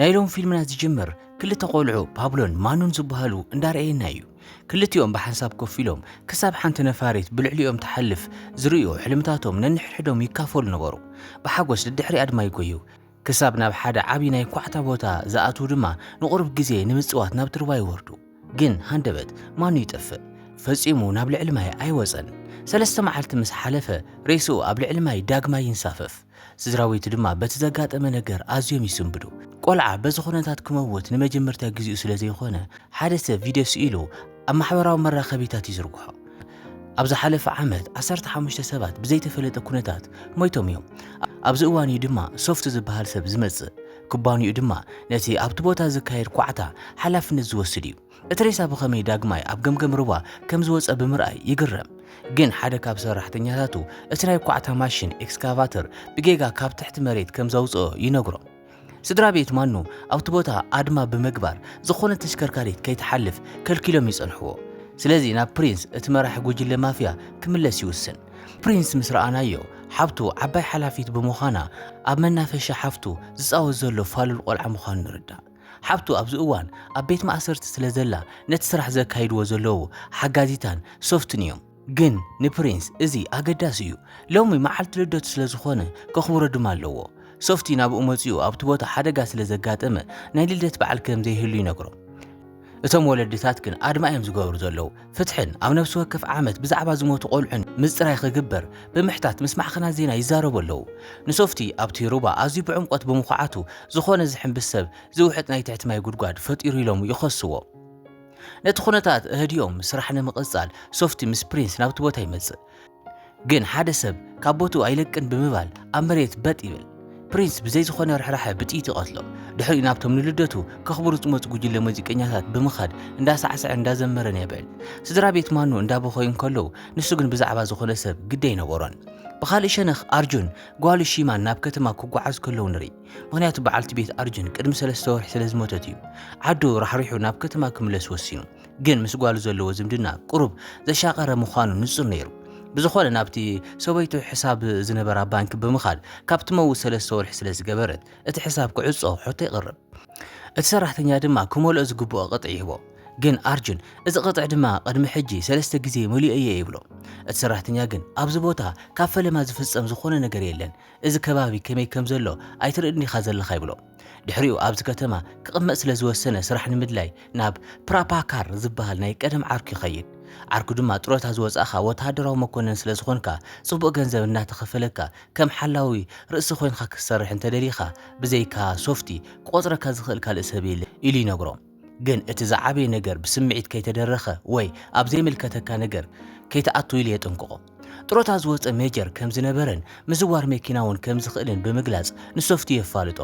ናይ ሎም ፊልምና ዝጅምር ክልተ ቆልዑ ፓብሎን ማኑን ዝበሃሉ እንዳርኣየና እዩ። ክልቲኦም ብሓንሳብ ኮፍ ኢሎም ክሳብ ሓንቲ ነፋሪት ብልዕሊኦም ትሓልፍ ዝርእዩ ሕልምታቶም ነንሕድሕዶም ይካፈሉ ነበሩ። ብሓጎስ ድድሕሪ ኣድማ ይጎዩ። ክሳብ ናብ ሓደ ዓቢ ናይ ኳዕታ ቦታ ዝኣትዉ ድማ ንቁሩብ ግዜ ንምጽዋት ናብቲ ሩባ ይወርዱ። ግን ሃንደበት ማኑ ይጠፍእ። ፈጺሙ ናብ ልዕሊ ማይ ኣይወጸን። ሰለስተ መዓልቲ ምስ ሓለፈ ሬስኡ ኣብ ልዕሊ ማይ ዳግማይ ይንሳፈፍ። ስድራቤቱ ድማ በቲ ዘጋጠመ ነገር ኣዝዮም ይስንብዱ። ቆልዓ በዚ ኩነታት ክመውት ንመጀመርታ ግዜኡ ስለ ዘይኮነ፣ ሓደ ሰብ ቪድዮ ስኢሉ ኣብ ማሕበራዊ መራኸቢታት ይዝርግሖ። ኣብ ዝሓለፈ ዓመት ዓሰርተ ሓሙሽተ ሰባት ብዘይተፈለጠ ኩነታት ሞይቶም እዮም። ኣብዚ እዋን እዩ ድማ ሶፍት ዝበሃል ሰብ ዝመጽእ። ኩባንይኡ ድማ ነቲ ኣብቲ ቦታ ዝካየድ ኳዕታ ሓላፍነት ዝወስድ እዩ። እቲ ሬሳ ብኸመይ ዳግማይ ኣብ ገምገም ሩባ ከም ዝወጸ ብምርኣይ ይግረም። ግን ሓደ ካብ ሰራሕተኛታቱ እቲ ናይ ኳዕታ ማሽን፣ ኤክስካቫተር፣ ብጌጋ ካብ ትሕቲ መሬት ከም ዘውጽኦ ይነግሮም። ስድራ ቤት ማኑ ኣብቲ ቦታ ኣድማ ብምግባር ዝኾነት ተሽከርካሪት ከይትሓልፍ ከልኪሎም ይጸንሕዎ። ስለዚ ናብ ፕሪንስ እቲ መራሒ ጉጅለ ማፍያ ክምለስ ይውስን። ፕሪንስ ምስ ረኣናዮ ሓብቱ ዓባይ ሓላፊት ብምዃና ኣብ መናፈሻ ሓፍቱ ዝጻወት ዘሎ ፋሉል ቆልዓ ምዃኑ ንርዳእ። ሓብቱ ኣብዚ እዋን ኣብ ቤት ማእሰርቲ ስለ ዘላ ነቲ ስራሕ ዘካይድዎ ዘለዉ ሓጋዚታን ሶፍትን እዮም። ግን ንፕሪንስ እዚ ኣገዳሲ እዩ። ሎሚ መዓልቲ ልደቱ ስለ ዝኾነ ከኽብሮ ድማ ኣለዎ። ሶፍቲ ናብኡ መጺኡ ኣብቲ ቦታ ሓደጋ ስለ ዘጋጠመ ናይ ልደት በዓል ከም ዘይህሉ ይነግሮ። እቶም ወለድታት ግን ኣድማ እዮም ዝገብሩ ዘለዉ። ፍትሕን ኣብ ነብሲ ወከፍ ዓመት ብዛዕባ ዝሞቱ ቆልዑን ምጽራይ ክግበር ብምሕታት ምስ ማዕከናት ዜና ይዛረቡ ኣለዉ። ንሶፍቲ ኣብቲ ሩባ ኣዝዩ ብዕምቆት ብምኹዓቱ ዝኾነ ዝሕንብስ ሰብ ዝውሕጥ ናይ ትሕቲ ማይ ጉድጓድ ፈጢሩ ኢሎም ይኸስዎ። ነቲ ኩነታት ኣህዲኦም ስራሕ ንምቕጻል ሶፍቲ ምስ ፕሪንስ ናብቲ ቦታ ይመጽእ። ግን ሓደ ሰብ ካብ ቦትኡ ኣይለቅን ብምባል ኣብ መሬት በጥ ይብል። ፕሪንስ ብዘይ ዝኾነ ርሕራሐ ብጥይት ይቐትሎ። ድሕሪኡ ናብቶም ንልደቱ ከኽብሩ ዝመጹ ጉጅለ ሙዚቀኛታት ብምኻድ እንዳሳዕሰዐን እንዳዘመረን የብዕል። ስድራ ቤት ማኑ እንዳበኸዩ እንከለዉ ንሱ ግን ብዛዕባ ዝኾነ ሰብ ግዲ ኣይነበሮን። ብኻልእ ሸነኽ ኣርጁን ጓሉ ሺማን ናብ ከተማ ክጓዓዙ ከለዉ ንርኢ። ምኽንያቱ በዓልቲ ቤት ኣርጁን ቅድሚ ሰለስተ ወርሒ ስለዝሞተት እዩ። ዓዱ ራሕሪሑ ናብ ከተማ ክምለስ ወሲኑ። ግን ምስ ጓሉ ዘለዎ ዝምድና ቁሩብ ዘሻቐረ ምዃኑ ንጹር ነይሩ። ብዝኾነ ናብቲ ሰበይቱ ሕሳብ ዝነበራ ባንኪ ብምኻድ ካብ ትመውት ሰለስተ ወርሒ ስለ ዝገበረት እቲ ሕሳብ ክዕጾ ሕቶ የቕርብ። እቲ ሰራሕተኛ ድማ ክመልኦ ዝግብኦ ቅጥዒ ይህቦ። ግን ኣርጁን እዚ ቅጥዒ ድማ ቅድሚ ሕጂ ሰለስተ ግዜ መሊኦ'የ ይብሎ። እቲ ሰራሕተኛ ግን ኣብዚ ቦታ ካብ ፈለማ ዝፍጸም ዝኾነ ነገር የለን እዚ ከባቢ ከመይ ከም ዘሎ ኣይትርእን ዲኻ ዘለኻ ይብሎ። ድሕሪኡ ኣብዚ ከተማ ክቕመጥ ስለ ዝወሰነ ስራሕ ንምድላይ ናብ ፕራፓካር ዝበሃል ናይ ቀደም ዓርኩ ይኸይድ። ዓርኩ ድማ ጡረታ ዝወጻእኻ ወተሃደራዊ መኮነን ስለ ዝኾንካ ጽቡቕ ገንዘብ እናተኸፈለካ ከም ሓላዊ ርእሲ ኮይንካ ክትሰርሕ እንተደሊኻ ብዘይካ ሶፍቲ ክቖጽረካ ዝኽእል ካልእ ሰብ የለን ኢሉ ይነግሮ። ግን እቲ ዝዓበየ ነገር ብስምዒት ከይተደረኸ ወይ ኣብ ዘይምልከተካ ነገር ከይትኣቱ ኢሉ የጠንቅቖ። ጥሮታ ዝወጸ ሜጀር ከም ዝነበረን ምዝዋር መኪና እውን ከም ዝኽእልን ብምግላጽ ንሶፍቲ የፋልጦ።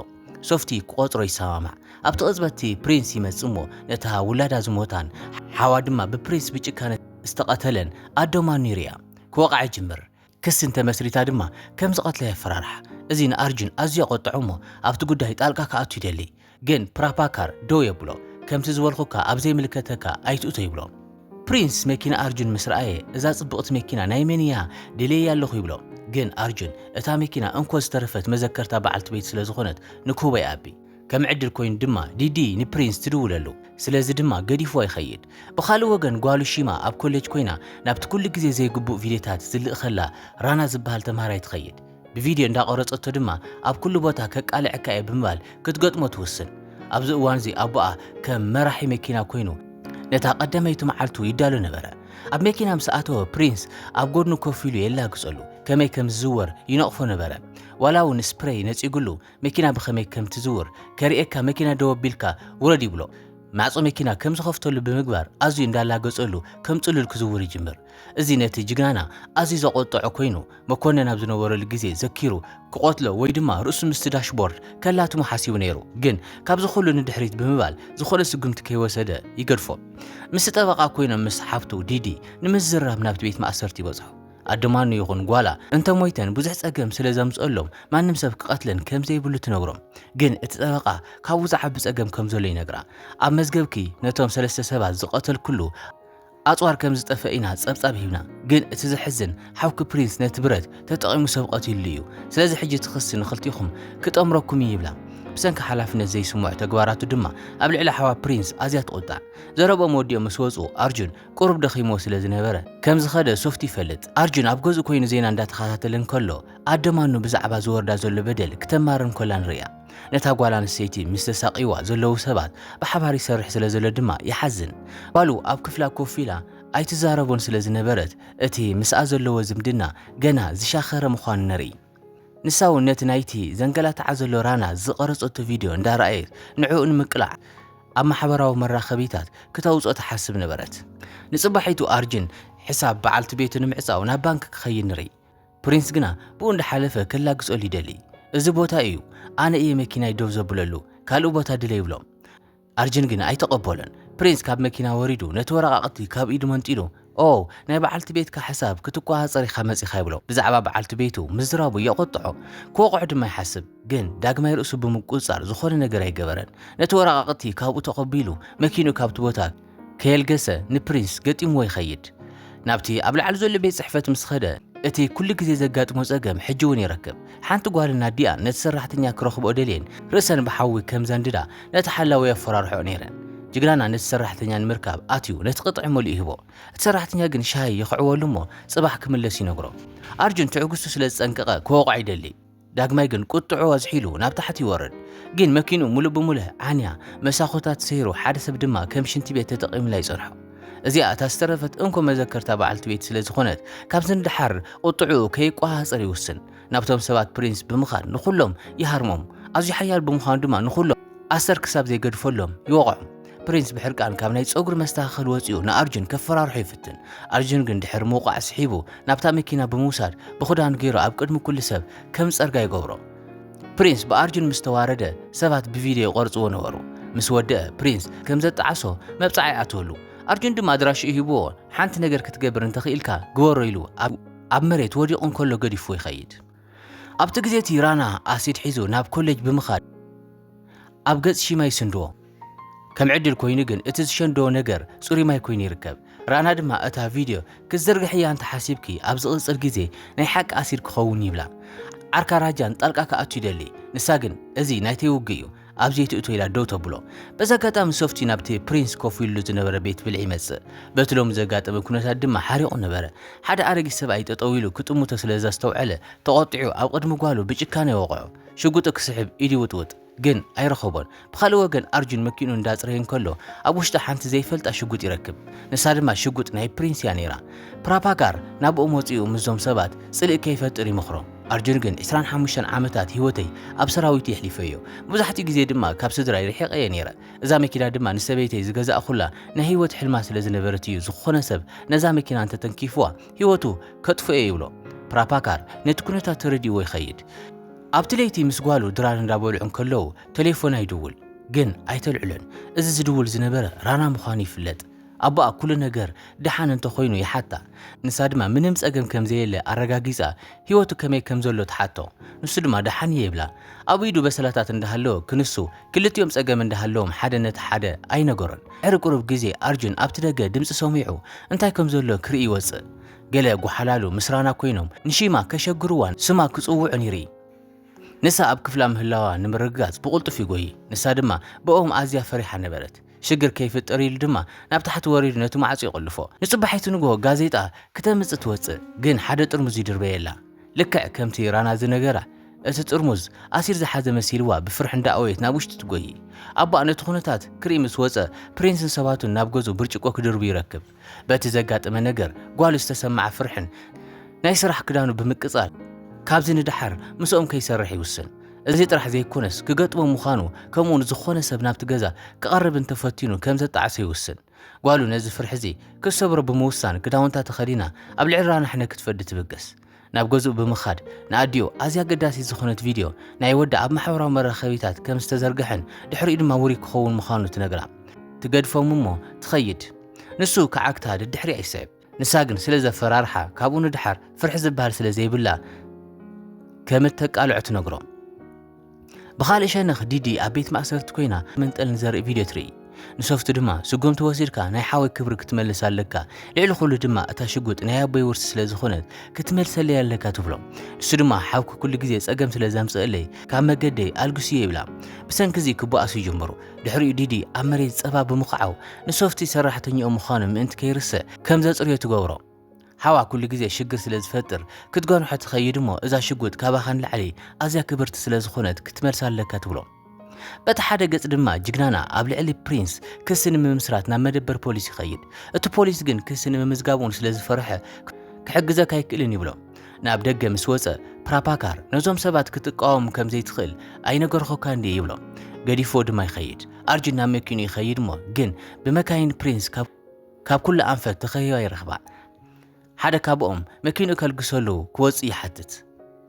ሶፍቲ ክቖጽሮ ይሰማማዕ። ኣብቲ ቅጽበት እቲ ፕሪንስ ይመጽእ እሞ ነታ ውላዳ ዝሞታን ሓዋ ድማ ብፕሪንስ ብጭካነ ዝተቐተለን ኣደ ማኑ ይርኣ። ክወቕዓ ይጅምር። ክሲ እንተመስሪታ ድማ ከም ዝቐትላ የፈራርሓ። እዚ ንኣርጁን ኣዝዩ ኣቖጠዖ'ሞ ኣብቲ ጉዳይ ጣልቃ ክኣቱ ይደሊ። ግን ፕራፓካር ደው የብሎ። ከምቲ ዝበልኩካ ኣብ ዘይምልከተካ ኣይትእቶ ይብሎ። ፕሪንስ መኪና ኣርጁን ምስ ረኣየ እዛ ጽብቕቲ መኪና ናይ መን እያ ደልየያ ኣለኹ ይብሎ። ግን ኣርጁን እታ መኪና እንኮ ዝተረፈት መዘከርታ በዓልቲ ቤት ስለ ዝኾነት ንክህቦ ይኣቢ። ከም ዕድል ኮይኑ ድማ ዲዲ ንፕሪንስ ትድውለሉ፣ ስለዚ ድማ ገዲፍዋ ይኸይድ። ብኻልእ ወገን ጓሉ ሺማ ኣብ ኮሌጅ ኮይና ናብቲ ኩሉ ግዜ ዘይግቡእ ቪድዮታት ዝልእኸላ ራና ዝበሃል ተምሃራይ ትኸይድ። ብቪድዮ እንዳቐረጸቶ ድማ ኣብ ኩሉ ቦታ ከቃልዐካ እየ ብምባል ክትገጥሞ ትውስን። ኣብዚ እዋንዚ ኣቦኣ ከም መራሒ መኪና ኮይኑ ነታ ቀዳመይቲ መዓልቱ ይዳሎ ነበረ። ኣብ መኪና ምስ ኣተወ ፕሪንስ ኣብ ጎድኑ ኮፍ ኢሉ የላግጸሉ፣ ከመይ ከም ዝዝወር ይነቕፎ ነበረ። ዋላ እውን ስፕሬይ ነጺጉሉ መኪና ብኸመይ ከም ትዝውር ከርእየካ መኪና ደው ኣቢልካ ውረድ ይብሎ። ማዕጾ መኪና ከም ዝኸፍተሉ ብምግባር ኣዝዩ እንዳላገጸሉ ከም ጽሉል ክዝውር ይጅምር። እዚ ነቲ ጅግናና ኣዝዩ ዘቖጠዖ ኮይኑ መኮነን ኣብ ዝነበረሉ ግዜ ዘኪሩ ክቐትሎ ወይ ድማ ርእሱ ምስቲ ዳሽቦርድ ከላትሞ ሓሲቡ ነይሩ። ግን ካብዚ ኩሉ ንድሕሪት ብምባል ዝኾነ ስጉምቲ ከይወሰደ ይገድፎ። ምስቲ ጠበቓ ኮይኖም ምስ ሓብቱ ዲዲ ንምዝርራብ ናብቲ ቤት ማእሰርቲ ይበጽሑ። ኣደ ማኑ ይኹን ጓላ እንተ ሞይተን ብዙሕ ጸገም ስለ ዘምጽኦሎም ማንም ሰብ ክቐትለን ከም ዘይብሉ ትነግሮም። ግን እቲ ጠበቓ ካብኡ ዝዓቢ ጸገም ከም ዘሎ ይነግራ። ኣብ መዝገብኪ ነቶም ሰለስተ ሰባት ዝቐተልክሉ ኣጽዋር ከም ዝጠፍአ ኢና ጸብጻብ ሂብና። ግን እቲ ዘሕዝን ሓውኪ ፕሪንስ ነቲ ብረት ተጠቒሙ ሰብ ቐቲልሉ እዩ። ስለዚ ሕጂ እቲ ክሲ ንኽልቲኹም ክጠምረኩም እዩ ይብላ። ብሰንኪ ሓላፍነት ዘይስምዖ ተግባራቱ ድማ ኣብ ልዕሊ ሓዋ ፕሪንስ ኣዝያ ትቑጣዕ። ዘረብኦም ወዲኦም ምስ ወጹ ኣርጁን ቁሩብ ደኺምዎ ስለ ዝነበረ ከም ዝኸደ ሶፍት ይፈልጥ። ኣርጁን ኣብ ገዝኡ ኮይኑ ዜና እንዳተኸታተለ እንከሎ ኣደ ማኑ ብዛዕባ ዝወርዳ ዘሎ በደል ክተማርር እንከላ ንርእያ። ነታ ጓል ኣንስተይቲ ምስ ዘሳቕይዋ ዘለዉ ሰባት ብሓባር ይሰርሕ ስለ ዘሎ ድማ ይሓዝን። ጓሉ ኣብ ክፍላ ኮፍ ኢላ ኣይትዛረቦን ስለ ዝነበረት እቲ ምስኣ ዘለዎ ዝምድና ገና ዝሻኸረ ምዃኑ ነርኢ። ንሳ እውን ነቲ ናይቲ ዘንገላትዓ ዘሎ ራና ዝቐረጸቶ ቪድዮ እንዳረኣየት ንዕኡ ንምቅላዕ ኣብ ማሕበራዊ መራኸቢታት ክተውጽኦ ትሓስብ ነበረት። ንጽባሒቱ ኣርጅን ሕሳብ በዓልቲ ቤቱ ንምዕጻው ናብ ባንክ ክኸይድ ንርኢ። ፕሪንስ ግና ብኡ እንዳሓለፈ ከላግጸሉ ይደሊ። እዚ ቦታ እዩ፣ ኣነ እየ መኪናይ ደው ዘብለሉ፣ ካልእ ቦታ ድለ ይብሎም። ኣርጅን ግን ኣይተቐበሎን። ፕሪንስ ካብ መኪና ወሪዱ ነቲ ወረቓቕቲ ካብ ኢዱ መንጢሉ፣ ኦው፣ ናይ በዓልቲ ቤትካ ሕሳብ ክትቆጻጸር ኢኻ መጺኻ ይብሎ። ብዛዕባ በዓልቲ ቤቱ ምዝራቡ የቖጥዖ፣ ክወቕዖ ድማ ይሓስብ። ግን ዳግማይ ርእሱ ብምቁጽጻር ዝኾነ ነገር ኣይገበረን። ነቲ ወረቓቕቲ ካብኡ ተቐቢሉ መኪንኡ ካብቲ ቦታ ከየልገሰ ንፕሪንስ ገጢምዎ ይኸይድ። ናብቲ ኣብ ላዕሊ ዘሎ ቤት ጽሕፈት ምስ ኸደ እቲ ኩሉ ግዜ ዘጋጥሞ ጸገም ሕጂ እውን ይረክብ። ሓንቲ ጓል ናዲኣ ነቲ ሰራሕተኛ ክረኽብኦ ደልየን ርእሰን ብሓዊ ከም ዘንድዳ ነቲ ሓላዊ የፈራርሕኦ ነይረን። ጅግናና ነቲ ሰራሕተኛ ንምርካብ ኣትዩ ነቲ ቅጥዒ መሊኡ ይህቦ። እቲ ሰራሕተኛ ግን ሻሂ ይኽዕወሉ እሞ ጽባሕ ክምለስ ይነግሮ። ኣርጁን ትዕግስቱ ስለ ዝጸንቀቐ ክወቕዖ ይደሊ። ዳግማይ ግን ቁጥዕኡ ኣዝሒሉ ናብ ታሕቲ ይወርድ። ግን መኪንኡ ምሉእ ብምሉእ ዓንያ፣ መሳኹታ ተሰይሩ ሓደ ሰብ ድማ ከም ሽንቲ ቤት ተጠቒሙላ ይጸንሖ። እዚኣ እታ ዝተረፈት እንኮ መዘከርታ በዓልቲ ቤት ስለ ዝኾነት ካብዚ ንደሓር ቁጥዕኡ ከይቋሃፀር ይውስን ናብቶም ሰባት ፕሪንስ ብምኻድ ንኹሎም ይሃርሞም ኣዝዩ ሓያል ብምዃኑ ድማ ንኹሎም ኣሰር ክሳብ ዘይገድፈሎም ይወቕዖም ፕሪንስ ብሕርቃን ካብ ናይ ፀጉሪ መስተኻኸል ወፂኡ ንኣርጁን ከፈራርሖ ይፍትን ኣርጁን ግን ድሕሪ ምውቃዕ ስሒቡ ናብታ መኪና ብምውሳድ ብኽዳኑ ገይሩ ኣብ ቅድሚ ኩሉ ሰብ ከም ፀርጋ ይገብሮ ፕሪንስ ብኣርጁን ምስ ተዋረደ ሰባት ብቪድዮ ይቐርጽዎ ነበሩ። ምስ ወደአ ፕሪንስ ከም ዘጣዓሶ መብጽዓ ይኣትወሉ። ኣርጁን ድማ ኣድራሽኡ ሂብዎ ሓንቲ ነገር ክትገብር እንተኽኢልካ ግበሮ ኢሉ ኣብ መሬት ወዲቑ እንከሎ ገዲፍዎ ይኸይድ። ኣብቲ ግዜ እቲ ራና ኣሲድ ሒዙ ናብ ኮሌጅ ብምኻድ ኣብ ገጽ ሺማ ይስንድዎ። ከም ዕድል ኮይኑ ግን እቲ ዝሸንዶ ነገር ጽሩይ ማይ ኮይኑ ይርከብ። ራና ድማ እታ ቪድዮ ክትዝርግሕያ እንተ ሓሲብኪ ኣብ ዝቕጽል ግዜ ናይ ሓቂ ኣሲድ ክኸውን ይብላ። ዓርካ ራጃን ጣልቃ ክኣቱ ይደሊ፣ ንሳ ግን እዚ ናይተይ ውግእ እዩ ኣብዚ ኣይትእቶ ኢላ ደው ተብሎ። በዚ ኣጋጣሚ ሶፍቲ ናብቲ ፕሪንስ ኮፍ ኢሉሉ ዝነበረ ቤት ብልዒ ይመጽእ። በቲ ሎሚ ዘጋጠመ ኩነታት ድማ ሓሪቑ ነበረ። ሓደ ኣረጊት ሰብኣይ ጠጠው ኢሉ ክጥምቶ ስለ ዘስተውዐለ ተቖጢዑ ኣብ ቕድሚ ጓሉ ብጭካነ ወቕዖ። ሽጉጡ ክስሕብ ኢዱ ይውጥውጥ። ግን ኣይረኸቦን። ብኻልእ ወገን ኣርጁን መኪንኡ እንዳጽረየ እንከሎ ኣብ ውሽጣ ሓንቲ ዘይፈልጣ ሽጉጥ ይረክብ። ንሳ ድማ ሽጉጥ ናይ ፕሪንስ እያ ነይራ። ፕራፓጋር ናብኡ መጺኡ ምስዞም ሰባት ጽልኢ ከይፈጥር ይመኽሮም። ኣርጁን ግን ዕስራን ሓሙሽተን ዓመታት ህይወተይ ኣብ ሰራዊት የሕሊፈዮ። መብዛሕትኡ ግዜ ድማ ካብ ስድራይ ርሒቐ እየ ነይረ። እዛ መኪና ድማ ንሰበይተይ ዝገዛእኩላ ናይ ህይወት ሕልማ ስለ ዝነበረት እዩ ዝኾነ ሰብ ነዛ መኪና እንተተንኪፉዋ ህይወቱ ከጥፍኦ'የ ይብሎ። ፕራፓካር ነቲ ኩነታት ተረዲእዎ ይኸይድ። ኣብቲ ለይቲ ምስ ጓሉ ድራር እንዳበልዑ እንከለዉ ተሌፎና ይድውል ግን ኣይተልዕሎን እዚ ዝድውል ዝነበረ ራና ምዃኑ ይፍለጥ ኣቦኣ ኩሉ ነገር ደሓን እንተኾይኑ ይሓታ ንሳ ድማ ምንም ጸገም ከምዘየለ ኣረጋጊጻ ሂወቱ ከመይ ከምዘሎ ትሓቶ ንሱ ድማ ደሓን እየ ይብላ ኣብ ኢዱ በሰላታት እንዳሃለወ ክንሱ ክልቲኦም ጸገም እንዳሃለዎም ሓደ ነቲ ሓደ ኣይነገሮን ድሕሪ ቁሩብ ግዜ ኣርጁን ኣብቲ ደገ ድምጺ ሰሚዑ እንታይ ከምዘሎ ክርኢ ይወጽእ ገለ ጎሓላሉ ምስራና ኮይኖም ንሺማ ከሸግርዋን ስማ ክጽውዑን ይርኢ። ንሳ ኣብ ክፍላ ምህላዋ ንምርግጋጽ ብቕልጡፍ ይጎዪ፣ ንሳ ድማ ብእኦም ኣዝያ ፈሪሓ ነበረት። ሽግር ከይፍጠር ኢሉ ድማ ናብ ታሕቲ ወሪዱ ነቲ ማዕጾ ይቖልፎ። ንጽባሒቱ ንግሆ ጋዜጣ ክተምጽእ ትወጽእ፣ ግን ሓደ ጥርሙዝ ይድርበየላ። ልክዕ ከምቲ ራና ዝነገራ እቲ ጥርሙዝ ኣሲድ ዝሓዘ መሲልዋ ብፍርሒ እንዳእወየት ናብ ውሽጢ ትጎዪ። ኣቦኣ ነቲ ኩነታት ክርኢ ምስ ወጸ ፕሪንስን ሰባቱን ናብ ገዝኡ ብርጭቆ ክድርቡ ይረክብ። በቲ ዘጋጠመ ነገር ጓሉ ዝተሰመዓ ፍርሕን ናይ ስራሕ ክዳኑ ብምቅጻል ካብዚ ንደሓር ምስኦም ከይሰርሕ ይውስን። እዚ ጥራሕ ዘይኮነስ ክገጥሞ ምዃኑ ከምኡውን ዝኾነ ሰብ ናብቲ ገዛ ክቐርብ እንተፈቲኑ ከም ዘጣዕሶ ይውስን። ጓሉ ነዚ ፍርሒ እዚ ክትሰብሮ ብምውሳን ክዳውንታ ተኸዲና ኣብ ልዕሊ ራናሕነ ክትፈዲ ትብገስ። ናብ ገዝኡ ብምኻድ ንኣዲኡ ኣዝያ ኣገዳሲት ዝኾነት ቪድዮ ናይ ወዳ ኣብ ማሕበራዊ መራኸቢታት ከም ዝተዘርግሐን ድሕሪኡ ድማ ውሩይ ክኸውን ምዃኑ ትነግራ። ትገድፎም እሞ ትኸይድ። ንሱ ክዓግታ ደድሕሪኣ ይስዕብ። ንሳ ግን ስለ ዘፈራርሓ ካብኡ ንደሓር ፍርሒ ዝበሃል ስለ ዘይብላ ከም እተቃልዖ ትነግሮ። ብኻልእ ሸነኽ ዲዲ ኣብ ቤት ማእሰርቲ ኮይና መንጠል ንዘርኢ ቪድዮ ትርኢ። ንሶፍቱ ድማ ስጉምቲ ወሲድካ ናይ ሓወይ ክብሪ ክትመልስ ኣለካ፣ ልዕሊ ኩሉ ድማ እታ ሽጉጥ ናይ ኣቦይ ውርሲ ስለ ዝኾነት ክትመልሰለይ ኣለካ ትብሎ። ንሱ ድማ ሓውኪ ኩሉ ግዜ ጸገም ስለ ዘምጽእለይ ካብ መገደይ ኣልግስዮ ይብላ። ብሰንኪ እዚ ክበኣሱ ይጅምሩ። ድሕሪኡ ዲዲ ኣብ መሬት ጸባ ብምኽዓው ንሶፍቲ ሰራሕተኛኡ ምዃኑ ምእንቲ ከይርስዕ ከም ዘጽርዮ ትገብሮ። ሓዋ ኩሉ ግዜ ሽግር ስለ ዝፈጥር ክትገርሖ ትኸይድ እሞ እዛ ሽጉጥ ካባኻ ንላዕሊ ኣዝያ ክብርቲ ስለ ዝኾነት ክትመልሳ ኣለካ ትብሎ። በቲ ሓደ ገጽ ድማ ጅግናና ኣብ ልዕሊ ፕሪንስ ክሲ ንምምስራት ናብ መደበር ፖሊስ ይኸይድ። እቲ ፖሊስ ግን ክሲ ንምምዝጋብ'ውን ስለ ዝፈርሐ ክሕግዘካ ኣይክእልን ይብሎ። ናብ ደገ ምስ ወጸ ፕራፓካር ነዞም ሰባት ክትቃወም ከም ዘይትኽእል ኣይነገርኹካን ድየ ይብሎ። ገዲፍዎ ድማ ይኸይድ። ኣርጁን ናብ መኪንኡ ይኸይድ እሞ ግን ብመካይን ፕሪንስ ካብ ካብ ኩሉ ኣንፈት ተኸቢባ ይረኽባ። ሓደ ካብኦም መኪንኡ ከልግሰሉ ክወጽእ ይሓትት።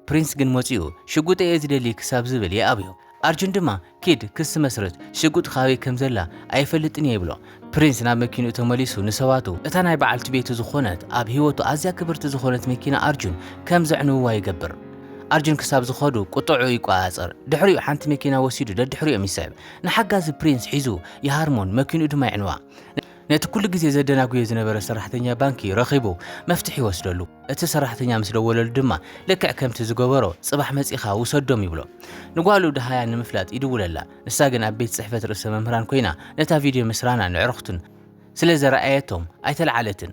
ፕሪንስ ግን መጺኡ ሽጉጠይ እየ ዝደሊ ክሳብ ዝብል ይኣብዮ። ኣርጁን ድማ ኪድ ክሲ መስርት፣ ሽጉጥ ካበይ ከም ዘላ ኣይፈልጥን እየ ይብሎ። ፕሪንስ ናብ መኪንኡ ተመሊሱ ንሰባቱ እታ ናይ በዓልቲ ቤቱ ዝኾነት ኣብ ህይወቱ ኣዝያ ክብርቲ ዝኾነት መኪና ኣርጁን ከም ዘዕንውዋ ይገብር። ኣርጁን ክሳብ ዝኸዱ ቁጠዕኡ ይቆጻጸር። ድሕሪኡ ሓንቲ መኪና ወሲዱ ደድሕሪኦም ይስዕብ። ንሓጋዚ ፕሪንስ ሒዙ ይሃርሞን መኪንኡ ድማ የዕንዋ። ነቲ ኩሉ ግዜ ዘደናጉዮ ዝነበረ ሰራሕተኛ ባንኪ ረኺቡ መፍትሒ ይወስደሉ። እቲ ሰራሕተኛ ምስ ደወለሉ ድማ ልክዕ ከምቲ ዝገበሮ ጽባሕ መጺኻ ውሰዶም ይብሎ። ንጓሉ ደሃያ ንምፍላጥ ይድውለላ፣ ንሳ ግን ኣብ ቤት ጽሕፈት ርእሰ መምህራን ኮይና ነታ ቪድዮ ምስ ራናን ኣዕሩኽቱን ስለ ዘርኣየቶም ኣይተልዓለትን።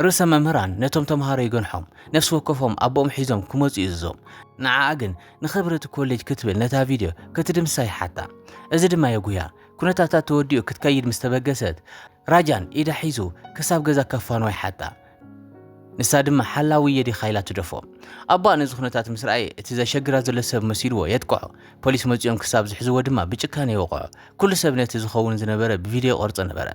ርእሰ መምህራን ነቶም ተመሃሮ ይገንሖም፣ ነፍሲ ወከፎም ኣቦኦም ሒዞም ክመጹ ይእዝዞም። ንዓኣ ግን ንኽብሪ እቲ ኮሌጅ ክትብል ነታ ቪድዮ ክትድምስሳ ይሓታ። እዚ ድማ የጕህያ። ኵነታታ ተወዲኡ ክትከይድ ምስ ተበገሰት፣ ራጃን ኢዳ ሒዙ ክሳብ ገዛ ከፋንዋ ይሓታ። ንሳ ድማ ሓላዊ እየ ዲኻ ኢላ ትደፎ። ኣቦኣ ነዚ ኵነታት ምስ ረኣየ እቲ ዘሸግራ ዘሎ ሰብ መሲልዎ የጥቅዖ። ፖሊስ መጺኦም ክሳብ ዝሕዝዎ ድማ ብጭካነ ይወቕዖ። ኵሉ ሰብ ነቲ ዝኸውን ዝነበረ ብቪድዮ ይቐርጾ ነበረ።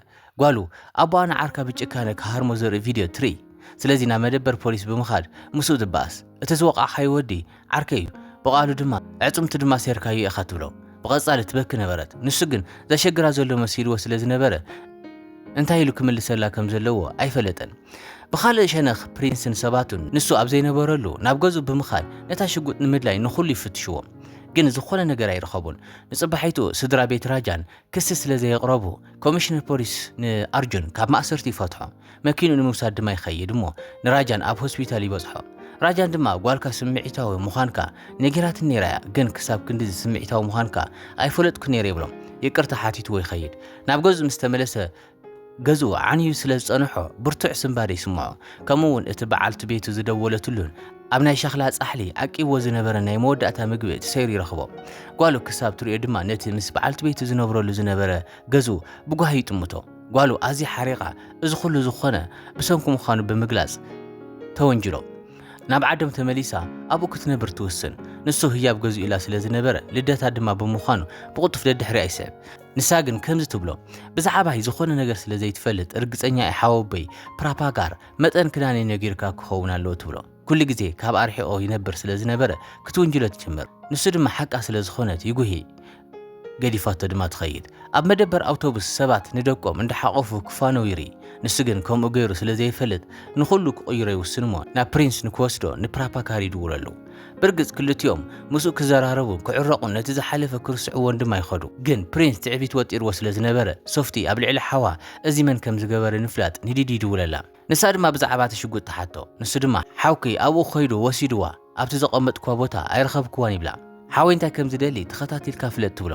ጓሉ፣ ኣቦኣ ንዓርካ ብጭካነ ክሃርሞ ዘርኢ ቪድዮ ትርኢ። ስለዚ ናብ መደበር ፖሊስ ብምኻድ ምስኡ ትበኣስ። እቲ ዝወቓዕካዮ ወዲ ዓርከይ'ዩ፣ ብቓሉ ድማ ኣዕጽምቱ ድማ ሴርካዮ ኢኻ ትብሎ። ብቐጻሊ ትበኪ ነበረት። ንሱ ግን ዘሸግራ ዘሎ መሲልዎ ስለ ዝነበረ እንታይ ኢሉ ክምልሰላ ከም ዘለዎ ኣይፈለጠን። ብኻልእ ሸነኽ ፕሪንስን ሰባቱን ንሱ ኣብ ዘይነበረሉ ናብ ገዝኡ ብምኻድ ነታ ሽጉጥ ንምድላይ ንኹሉ ይፍትሽዎም። ግን ዝኾነ ነገር ኣይረኸቡን። ንጽባሒቱ ስድራ ቤት ራጃን ክሲ ስለ ዘየቕረቡ፣ ኮሚሽነር ፖሊስ ንኣርጁን ካብ ማእሰርቲ ይፈትሖ። መኪንኡ ንምውሳድ ድማ ይኸይድ እሞ ንራጃን ኣብ ሆስፒታል ይበጽሖ። ራጃን ድማ ጓልካ ስምዒታዊ ምዃንካ ነጊራትኒ ነይራ እያ፣ ግን ክሳብ ክንድዚ ስምዒታዊ ምዃንካ ኣይፈለጥኩን ነይረ ይብሎ። ይቅርታ ሓቲትዎ ይኸይድ። ናብ ገዝኡ ምስ ተመለሰ ገዝኡ ዓንዩ ስለ ዝጸንሖ ብርቱዕ ስንባደ ይስምዖ። ከምኡ እውን እቲ በዓልቲ ቤቱ ዝደወለትሉን ኣብ ናይ ሸኽላ ጻሕሊ ዓቂብዎ ዝነበረን ናይ መወዳእታ ምግቢ ትሰይሩ ይረኽቦ። ጓሉ ክሳብ ትርእዮ ድማ ነቲ ምስ በዓልቲ ቤቱ ዝነብረሉ ዝነበረ ገዝኡ ብጓሂ ይጥምቶ። ጓሉ ኣዝያ ሓሪቓ እዚ ኹሉ ዝኾነ ብሰንኩ ምዃኑ ብምግላጽ ተወንጅሎ። ናብ ዓዶም ተመሊሳ ኣብኡ ክትነብር ትውስን። ንሱ ህያብ ገዝኡ ኢላ ስለ ዝነበረ ልደታ ድማ ብምዃኑ ብቕልጡፍ ደድሕሪኣ ይስዕብ። ንሳ ግን ከምዚ ትብሎ ብዛዕባይ ዝኾነ ነገር ስለ ዘይትፈልጥ ርግጸኛ እየ ሓወቦይ ፕራፓጋር መጠን ክዳን እዩ ነጊርካ ክኸውን ኣለዎ ትብሎ። ኩሉ ግዜ ካብ ኣርሒቆ ይነብር ስለ ዝነበረ ክትውንጅሎ ትጅምር። ንሱ ድማ ሓቃ ስለ ዝኾነት ይጉሂ ገዲፋቶ ድማ ትኸይድ። ኣብ መደበር ኣውቶቡስ ሰባት ንደቆም እንዳሓቆፉ ክፋነው ይርኢ። ንሱ ግን ከምኡ ገይሩ ስለ ዘይፈልጥ ንኹሉ ክቕይሮ ይውስንሞ ናብ ፕሪንስ ንክወስዶ ንፕራፓካር ይድውለሉ። ብርግጽ ክልቲኦም ምስኡ ክዘራረቡን ክዕረቑን ነቲ ዝሓለፈ ክርስዕዎን ድማ ይኸዱ። ግን ፕሪንስ ትዕቢት ወጢርዎ ስለ ዝነበረ፣ ሶፍቲ ኣብ ልዕሊ ሓዋ እዚ መን ከም ዝገበረ ንፍላጥ ንዲዲ ይድውለላ። ንሳ ድማ ብዛዕባ እቲ ሽጉጥ ትሓቶ። ንሱ ድማ ሓውኪ ኣብኡ ከይዱ ወሲድዋ፣ ኣብቲ ዘቐመጥክዋ ቦታ ኣይረኸብክዋን ይብላ። ሓወይ እንታይ ከም ዝደሊ ተኸታቲልካ ፍለጥ ትብሎ።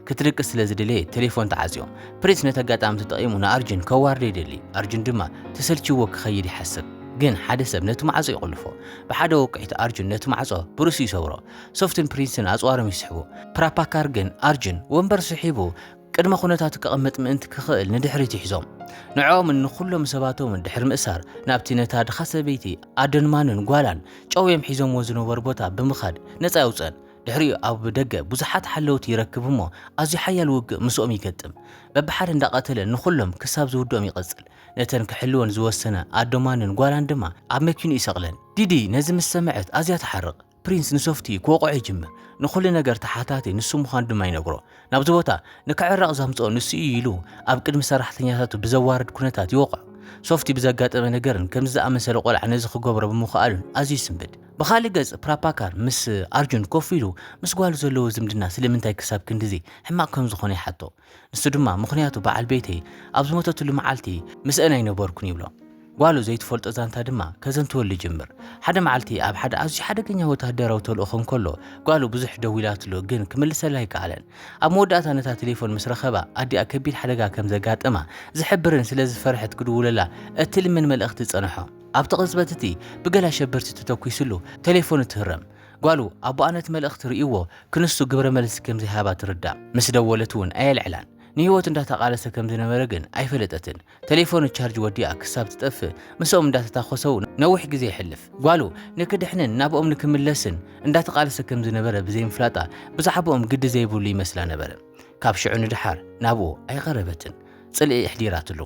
ክትድቅስ ስለ ዝደለየት ተሌፎን ትዓጽዮ። ፕሪንስ ነቲ ኣጋጣሚ ተጠቒሙ ንኣርጁን ከዋርዶ ይደሊ፣ ኣርጁን ድማ ተሰልቺዎ ክኸይድ ይሓስብ። ግን ሓደ ሰብ ነቲ ማዕጾ ይቑልፎ። ብሓደ ወቅዒት ኣርጁን ነቲ ማዕጾ ብርእሱ ይሰብሮ። ሶፍትን ፕሪንስን ኣጽዋሮም ይስሕቡ። ፕራፓካር ግን ኣርጁን ወንበር ስሒቡ ቅድመ ኩነታቱ ከቐምጥ ምእንቲ ክኽእል ንድሕሪት ይሕዞም። ንዕኦምን ንኹሎም ሰባቶምን ድሕሪ ምእሳር ናብቲ ነታ ድኻ ሰበይቲ ኣደንማንን ጓላን ጨውዮም ሒዞምዎ ዝነበሩ ቦታ ብምኻድ ነጻ የውጽእን። ድሕሪኡ ኣብ ደገ ብዙሓት ሓለውቲ ይረክብ እሞ ኣዝዩ ሓያል ውግእ ምስኦም ይገጥም። በብሓደ እንዳቐተለ ንኹሎም ክሳብ ዝውድኦም ይቐጽል። ነተን ክሕልወን ዝወሰነ ኣዶማንን ጓላን ድማ ኣብ መኪንኡ ይሰቕለን። ዲዲ ነዚ ምስ ሰምዐት ኣዝያ ትሓርቕ። ፕሪንስ ንሶፍቲ ክወቕዖ ይጅምር። ንኹሉ ነገር ተሓታቲ ንሱ ምዃኑ ድማ ይነግሮ። ናብዚ ቦታ ንክዕረቕ ዘምጽኦ ንሱ እዩ ኢሉ ኣብ ቅድሚ ሰራሕተኛታቱ ብዘዋርድ ኩነታት ይወቕዖ። ሶፍቲ ብዘጋጠመ ነገርን ከምዚ ዝኣመሰለ ቆልዓ ነዚ ክገብሮ ብምኽኣሉን ኣዝዩ ይስንብድ። ብኻልእ ገጽ ፕራፓካር ምስ ኣርጁን ኮፍ ኢሉ ምስ ጓሉ ዘለዎ ዝምድና ስለምንታይ ክሳብ ክንድዚ ሕማቕ ከም ዝኾነ ይሓቶ። ንሱ ድማ ምኽንያቱ በዓል ቤተይ ኣብ ዝሞተትሉ መዓልቲ ምስአን ኣይነበርኩን ይብሎ። ጓሉ ዘይትፈልጦ ዛንታ ድማ ከዘንትወሉ ይጅምር። ሓደ መዓልቲ ኣብ ሓደ ኣዝዩ ሓደገኛ ወተሃደራዊ ተልእኾ እንከሎ ጓሉ ብዙሕ ደዊላትሉ ግን ክምልሰላ ኣይከኣለን። ኣብ መወዳእታ ነታ ቴሌፎን ምስ ረኸባ ኣዲኣ ከቢድ ሓደጋ ከም ዘጋጠማ ዝሕብርን ስለ ዝፈርሐት ክድውለላ እትልምን መልእኽቲ ጸንሖ። ኣብቲ ቅጽበት እቲ ብገለ ኣሸበርቲ ተተኲስሉ ተሌፎኑ ትህረም። ጓሉ፣ ኣቦኣ ነቲ መልእኽቲ ርእዩዎ ክንሱ ግብረ መልሲ ከም ዘይሃባ ትርዳእ። ምስ ደወለት እውን ኣየልዕላን። ንህይወቱ እንዳተቓለሰ ከም ዝነበረ ግን ኣይፈለጠትን። ተሌፎኑ ቻርጅ ወዲኣ ክሳብ ትጠፍእ ምስኦም እንዳተታኾሰው ነዊሕ ግዜ የሕልፍ። ጓሉ ንክድሕንን ናብኦም ንክምለስን እንዳተቓለሰ ከም ዝነበረ ብዘይምፍላጣ ብዛዕብኦም ግዲ ዘይብሉ ይመስላ ነበረ። ካብ ሽዑ ንደሓር ናብኡ ኣይቐረበትን። ጽልኢ ኣሕዲራትሉ።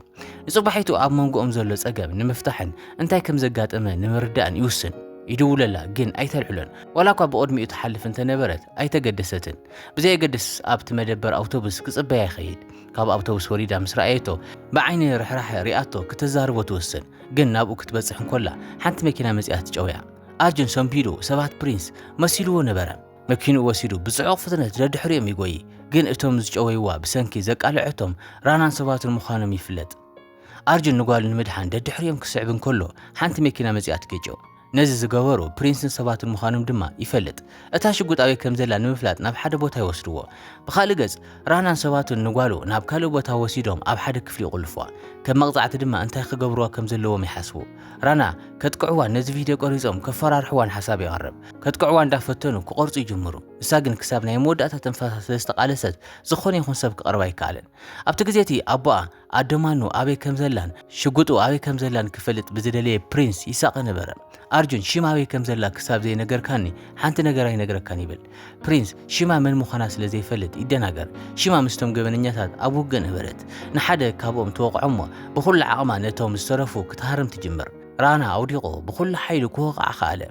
ንጽባሒቱ ኣብ መንጎኦም ዘሎ ጸገም ንምፍታሕን እንታይ ከም ዘጋጠመ ንምርዳእን ይውስን። ይድውለላ ግን ኣይተልዕሎን። ዋላ እኳ ብቕድሚኡ ትሓልፍ እንተነበረት ኣይተገደሰትን። ብዘየገድስ ኣብቲ መደበር ኣውቶቡስ ክጽበያ ይኸይድ። ካብ ኣውቶቡስ ወሪዳ ምስ ረኣየቶ ብዓይኒ ርሕራሐ ሪኣቶ ክተዛርቦ ትውስን። ግን ናብኡ ክትበጽሕ እንኮላ ሓንቲ መኪና መጺኣ ትጨውያ። ኣርጁን ሰንቢዱ ሰባት ፕሪንስ መሲልዎ ነበረ። መኪንኡ ወሲዱ ብጽዑቕ ፍጥነት ደድሕሪኦም ይጎይ፣ ግን እቶም ዝጨወይዋ ብሰንኪ ዘቃልዐቶም ራናን ሰባትን ምዃኖም ይፍለጥ። ኣርጁን ንጓሉ ንምድሓን ደድሕሪኦም ክስዕብ እንከሎ ሓንቲ መኪና መጺኣ ትገጮ። ነዚ ዝገበሩ ፕሪንስን ሰባትን ምዃኖም ድማ ይፈልጥ። እታ ሽጉጥ ኣበይ ከም ዘላ ንምፍላጥ ናብ ሓደ ቦታ ይወስድዎ። ብኻልእ ገጽ ራናን ሰባቱን ንጓሉ ናብ ካልእ ቦታ ወሲዶም ኣብ ሓደ ክፍሊ ይቑልፍዋ። ከም መቕጻዕቲ ድማ እንታይ ክገብርዋ ከም ዘለዎም ይሓስቡ። ራና ከጥቅዕዋ ነዚ ቪድዮ ቀሪጾም ከፈራርሕዋን ሓሳብ የቕርብ። ከጥቅዕዋ እንዳፈተኑ ክቖርጹ ይጅምሩ። ንሳ ግን ክሳብ ናይ መወዳእታ ትንፋሳ ስለ ዝተቓለሰት ዝኾነ ይኹን ሰብ ክቐርባ ኣይከኣለን። ኣብቲ ግዜ እቲ ኣቦኣ ኣደ ማኑ ኣበይ ከም ዘላን ሽጉጡ ኣበይ ከም ዘላን ክፈልጥ ብዝደለየ ፕሪንስ ይሳቐ ነበረ። ኣርጁን ሽም ኣበይ ከም ዘላ ክሳብ ዘይነገርካኒ ሓንቲ ነገር ኣይነግረካን ይብል። ፕሪንስ ሽማ መን ምዃና ስለ ዘይፈልጥ ይደናገር። ሽማ ምስቶም ገበነኛታት ኣብ ውግእ ነበረት። ንሓደ ካብኦም ትወቕዖ'ሞ ብኹሉ ዓቕማ ነቶም ዝተረፉ ክትሃርም ትጅምር። ራና ኣውዲቑ ብኹሉ ሓይሉ ክወቕዓ ከኣለ።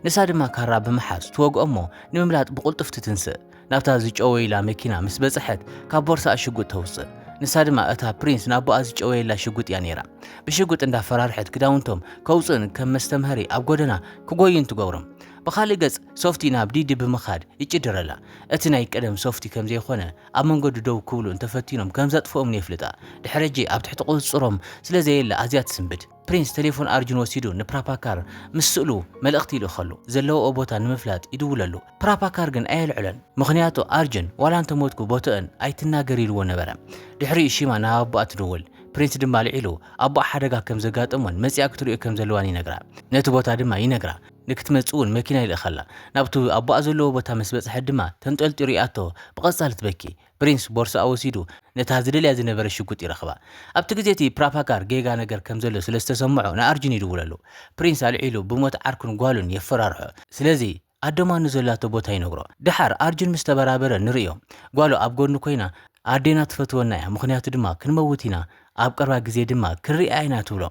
ንሳ ድማ ካራ ብምሓዝ ትወግኦ'ሞ ንምምላጥ ብቕልጡፍ ትትንስእ። ናብታ ዝጨወዩላ መኪና ምስ በጽሐት ካብ ቦርሳኣ ሽጉጥ ተውጽእ። ንሳ ድማ እታ ፕሪንስ ንኣቦኣ ዝጨወየላ ሽጉጥ እያ ነይራ። ብሽጉጥ እንዳፈራርሐት ክዳውንቶም ከውጽኡን ከም መስተምሃሪ ኣብ ጎደና ክጎዩን ትገብሮም። ብኻልእ ገጽ ሶፍቲ ናብ ዲዲ ብምኻድ ይጭድረላ። እቲ ናይ ቀደም ሶፍቲ ከም ዘይኮነ ኣብ መንገዱ ደው ክብሉ እንተ ፈቲኖም ከም ዘጥፍኦምን የፍልጣ። ድሕሪ ሕጂ ኣብ ትሕቲ ቁጽጽሮም ስለ ዘየለ ኣዝያ ትስምብድ። ፕሪንስ ተሌፎን ኣርጁን ወሲዱ ንፕራፓካር ምስ ስእሉ መልእኽቲ ይልእኸሉ። ዘለውኦ ቦታ ንምፍላጥ ይድውለሉ። ፕራፓካር ግን ኣየልዕሎን። ምኽንያቱ ኣርጁን ዋላ እንተ ሞትኩ ቦቶኦን ኣይትናገር ኢልዎ ነበረ። ድሕሪኡ ሺማ ናብ ኣቦኣ ትድውል። ፕሪንስ ድማ ኣልዒሉ ኣቦኣ ሓደጋ ከም ዘጋጠሞን መጺኣ ክትርእዮ ከም ዘለዋን ይነግራ። ነቲ ቦታ ድማ ይነግራ። ንክትመጽእ እውን መኪና ይልእኸላ። ናብቲ ኣቦኣ ዘለዎ ቦታ ምስ በጽሐት ድማ ተንጠልጢሉ ይኣቶ፣ ብቐጻሊ ትበኪ። ፕሪንስ ቦርስኣ ወሲዱ ነታ ዝደልያ ዝነበረ ሽጉጥ ይረኽባ። ኣብቲ ግዜ እቲ ፕራፓጋር ጌጋ ነገር ከም ዘሎ ስለ ዝተሰምዖ ንኣርጁን ይድውለሉ። ፕሪንስ ኣልዒሉ ብሞት ዓርኩን ጓሉን የፈራርሖ። ስለዚ ኣዶማ ንዘላቶ ቦታ ይነግሮ። ደሓር ኣርጁን ምስ ተበራበረ ንርእዮ። ጓሉ ኣብ ጎድኑ ኮይና ኣዴና ትፈትወና እያ ምኽንያቱ ድማ ክንመውት ኢና ኣብ ቀርባ ግዜ ድማ ክንርእያ ኢና ትብሎ።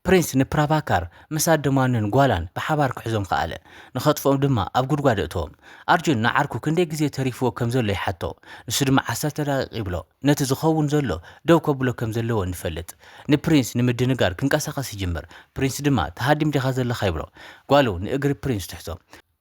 ፕሪንስ ንፕራቫካር ምስ ኣደማኑን ጓላን ብሓባር ክሕዞም ኸኣለ። ንኸጥፍኦም ድማ ኣብ ጉድጓድ ኣእተዎም። ኣርጁን ንዓርኩ ክንደይ ግዜ ተሪፍዎ ከም ዘሎ ይሓቶ። ንሱ ድማ ዓሰርተ ደቒቕ ይብሎ። ነቲ ዝኸውን ዘሎ ደው ከብሎ ከም ዘለዎ ንፈልጥ። ንፕሪንስ ንምድንጋር ክንቀሳቐስ ይጅምር። ፕሪንስ ድማ ትሃድም ዲኻ ዘለኻ ይብሎ። ጓሉ ንእግሪ ፕሪንስ ትሕዞ።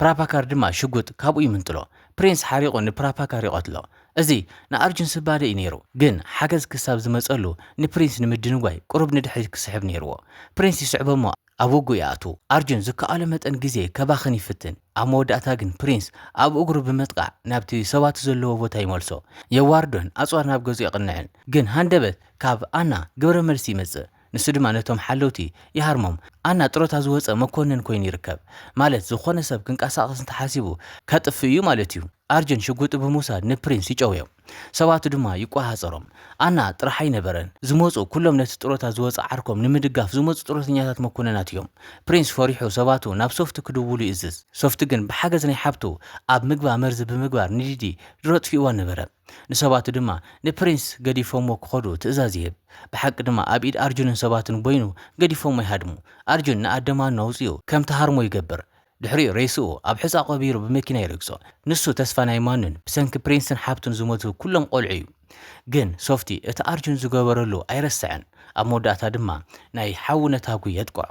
ፕራቫካር ድማ ሽጉጥ ካብኡ ይምንጥሎ። ፕሪንስ ሓሪቑ ንፕራቫካር ይቐትሎ። እዚ ንኣርጁን ስባደ እዩ ነይሩ፣ ግን ሓገዝ ክሳብ ዝመጸሉ ንፕሪንስ ንምድንጓይ ቁሩብ ንድሕሪት ክስሕብ ነይርዎ። ፕሪንስ ይስዕቦ'ሞ ኣብ ውግእ ይኣትው። ኣርጁን ዝከኣሎ መጠን ግዜ ከባኽን ይፍትን፣ ኣብ መወዳእታ ግን ፕሪንስ ኣብ እግሩ ብምጥቃዕ ናብቲ ሰባቱ ዘለዎ ቦታ ይመልሶ። የዋርዶን ኣጽዋር ናብ ገዝኡ የቕንዕን፣ ግን ሃንደበት ካብ ኣና ግብረ መልሲ ይመጽእ። ንሱ ድማ ነቶም ሓለውቲ ይሃርሞም። ኣና ጥሮታ ዝወጸ መኮንን ኮይኑ ይርከብ። ማለት ዝኾነ ሰብ ክንቀሳቐስ እንተሓሲቡ ከጥፍእ እዩ ማለት እዩ። ኣርጅን ሽጉጢ ብምውሳድ ንፕሪንስ ይጨውዮ። ሰባቱ ድማ ይቆሃጸሮም። ኣና ጥራሕ ኣይነበረን። ዝመጹ ኩሎም ነቲ ጥሮታ ዝወጸ ዓርኮም ንምድጋፍ ዝመጹ ጥሮተኛታት መኮንናት እዮም። ፕሪንስ ፈሪሑ ሰባቱ ናብ ሶፍቲ ክድውሉ ይእዝዝ። ሶፍቲ ግን ብሓገዝ ናይ ሓብቱ ኣብ ምግባ መርዚ ብምግባር ንሊዲ ድሮ ኣጥፊእዋ ነበረ። ንሰባቱ ድማ ንፕሪንስ ገዲፎሞ ክኸዱ ትእዛዝ ይህብ። ብሓቂ ድማ ኣብ ኢድ ኣርጁንን ሰባቱን ቦይኑ ገዲፎሞ ይሃድሙ። ኣርጁን ንኣደ ማኖ ኣውጺኡ ከም ትሃርሞ ይገብር። ድሕሪኡ ሬስኡ ኣብ ሑጻ ቀቢሩ ብመኪና ይረግጾ። ንሱ ተስፋ ናይ ማኖን ብሰንኪ ፕሪንስን ሓብቱን ዝሞቱ ኩሎም ቆልዑ'ዩ። ግን ሶፍቲ እቲ ኣርጁን ዝገበረሉ ኣይረስዐን። ኣብ መወዳእታ ድማ ናይ ሓዊ ነታጒ የጥቅዖ።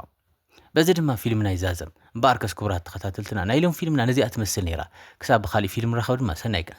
በዚ ድማ ፊልምና ይዛዘም። እምበኣርከስ ክቡራት ተኸታተልትና ናይ ሎሚ ፊልምና ነዚኣ ትመስል ነይራ። ክሳብ ብኻሊእ ፊልም ንራኸብ ድማ ሰናይ ቀን።